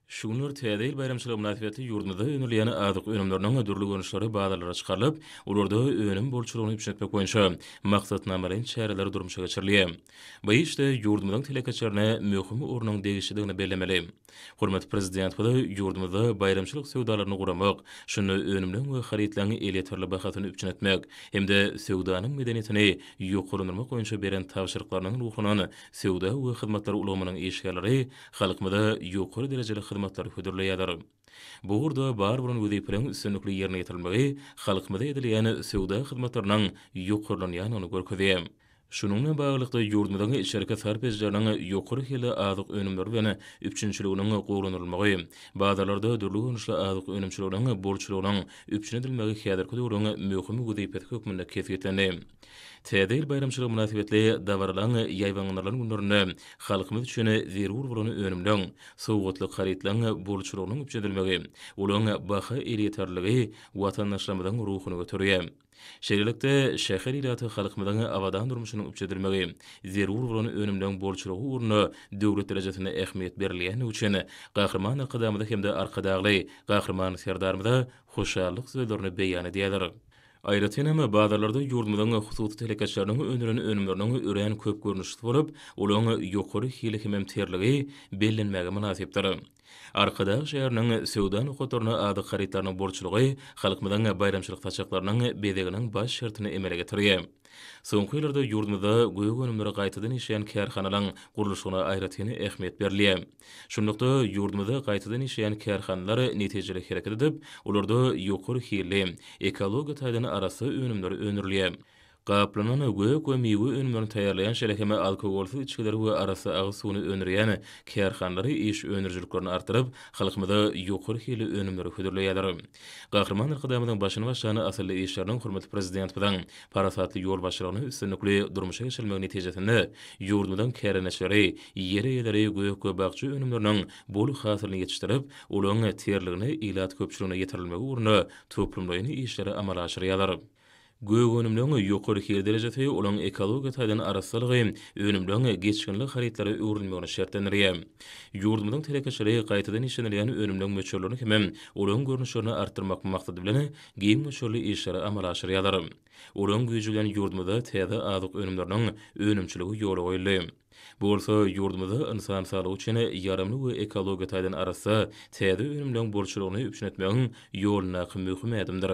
Şu günler Täze ýyl baýramçylygy mynasybetli ýurdumyzda öndürilýän azyk önümleriniň dürli görnüşleri bazarlara çykarylyp, olarda önüm bolçulygyny üpjün etmek boýunça maksatnamalaýyn çäreler durmuşa geçirilýär. Bu işde ýurdumyzyň telekeçilerine möhüm ornuň degişlidigini bellemeli. Hormatly Prezidentimiz ýurdumyzda baýramçylyk söwdalaryny guramak, şunda önümleň we harytlaryň elýeterli bahasyny üpjün etmek hem-de söwdanyň medeniýetini ýokarlandyrmak boýunça beren tabşyryklarynyň ruhundan Söwda we hyzmatlar ulgamynyň işgärleri halkymyza ýokary derejeli hyzmatlary hödürleýärler. Bu ugurda bar bolan wezipeleriň üstünlikli ýerine ýetirilmegi halkymyza edilýän söwda hyzmatlarynyň ýokarlanýandygyny görkezýär. Şunuň bilen baglylykda, ýurdumyzyň içerki sarp edijileriniň ýokary hilli azyk önümleri bilen üpjünçiliginiň gowulandyrylmagy, bazarlarda dürli görnüşli azyk önümçiliginiň bolçulygynyň üpjün edilmegi häzirki döwrüň möhüm wezipesi hökmünde kesgitlendi. Täze ýyl baýramçylygy mynasybetli dabaralaryň ýaýbaňlandyrylan günlerinde halkymyz üçin zerur bolan önümleň, sowgatlyk harytlaryň bolçulygynyň üpjün edilmegi, olaryň baha elýeterliligi watandaşlarymyzyň ruhuny göterýär. Şeýlelikde, şäher ilaty halkymyzyň abadan durmuşynyň üpjün edilmegi, zerur bolan önümleň bolçulygy ugrunda döwlet derejesinde ähmiýet berilýändigi üçin Gahryman Arkadagymyza hem-de Arkadagly Gahryman Serdarymyza hoşallyk sözlerini beýan edýärler. Aýratyn hem, bazarlarda ýurdumyzyň hususy telekeçileriniň öndüren önümleriniň örän köp görnüşlisi bolup, olaryň ýokary hili hemem terligi bellenmäge mynasypdyr. Arkadag şäheriniň söwda nokatlarynda azyk harytlarynyň bolçulygy halkymyzyň baýramçylyk saçaklarynyň bezeginiň baş şertini emele getirýär. Soňky ýyllarda ýurdumyzda gök önümleri gaýtadan işleýän kärhanalaryň gurluşygyna aýratyn ähmiýet berilýär. Şunlukda, ýurdumyzda gaýtadan işleýän kärhanalar netijeli hereket edip, olarda ýokary hilli, ekologiýa taýdan arassa önümler öndürilýär. Gaplanan gök we miwe önümlerini taýýarlaýan, şeýle hem alkogolsyz içgileri we arassa agyz suwuny öndürýän kärhanalar iş öndürijiliklerini artdyryp, halkymyza ýokary hilli önümleri hödürleýärler. Gahryman Arkadagymyzyň başyny başlan asylly işleriniň hormatly Prezidentimiziň parasatly ýolbaşçylygynda üstünlikli durmuşa geçirilmegi netijesinde ýurdumyzyň kärendeçileri Ýer eýeleri gök-gabakja önümleriniň bol hasylyny ýetişdirip, olaryň terligini ilat köpçüligine ýetirilmegi ugrunda toplumlaýyn işleri amala aşyrýarlar. Gök önümleriň ýokary hil derejesi olaryň ekologiýa taýdan arassalygy önümleriň geçginli harytlara öwrülmegini şertlendirýär. Ýurdumyzyň telekeçileri gaýtadan işlenilýän önümleriň möçberlerini hem-ä olaryň görnüşlerini artdyrmak maksady bilen giň möçberli işleri amala aşyrýarlar. Olaryň güýji bilen ýurdumyzda täze azyk önümleriniň önümçiligi ýola goýuldy. Bu bolsa ýurdumyzda ynsan saglygy üçin ýaramly we ekologiýa taýdan arassa täze önümleriň bolçulygyny üpjün etmegiň ýolundaky möhüm ädimdir.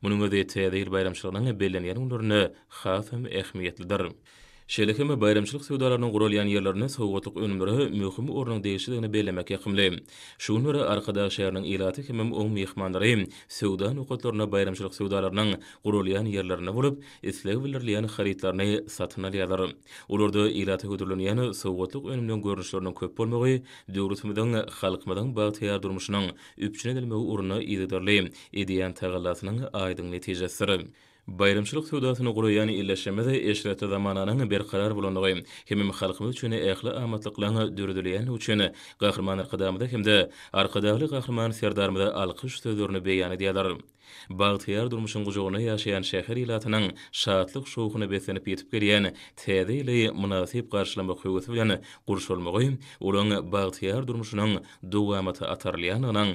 Munuň özi Täze ýyl baýramçylygynyň bellenýän günlerinde hasam ähmiýetlidir. Şeýle hem baýramçylyk söwdalarynyň guralýan ýerlerinde sowgatlyk önümlere möhüm ornuň degişlidigini bellemek ýakymly. Şu günler Arkadag şäheriniň ilaty hemem oň myhmanlary söwda nokatlarynda baýramçylyk söwdalarynyň guralýan ýerlerinde bolup, isleg bildirilýän harytlaryny satyn alýarlar. Olarda ilata hödürlenýän sowgatlyk önümleň görnüşleriniň köp bolmagy döwletimiziň, halkymyzyň bagtyýar durmuşynyň üpjün edilmegi ugrunda yzygiderli edýän tagallasynyň aýdyň netijesidir. Baýramçylyk söwdasyny guraýan illeşigimiz eşretli zamananyň berkarar bolandygy hemem halkymyz üçin ähli amatlyklaryň döredilýändigi üçin Gahryman Arkadagymyza hem-de Arkadagly Gahryman Serdarymyza alkyş sözlerini beýan edýärler. Bagtyýar durmuşyň gujagynda ýaşaýan şäher ilatynyň şatlyk-şowhuna beslenip ýetip gelýän Täze ýyly mynasyp garşylamak höwesi bilen gurşalmagy olaň bagtyýar durmuşynyň dowamata atarylýandygynyň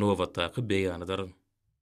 nobatdaky beýanydyr.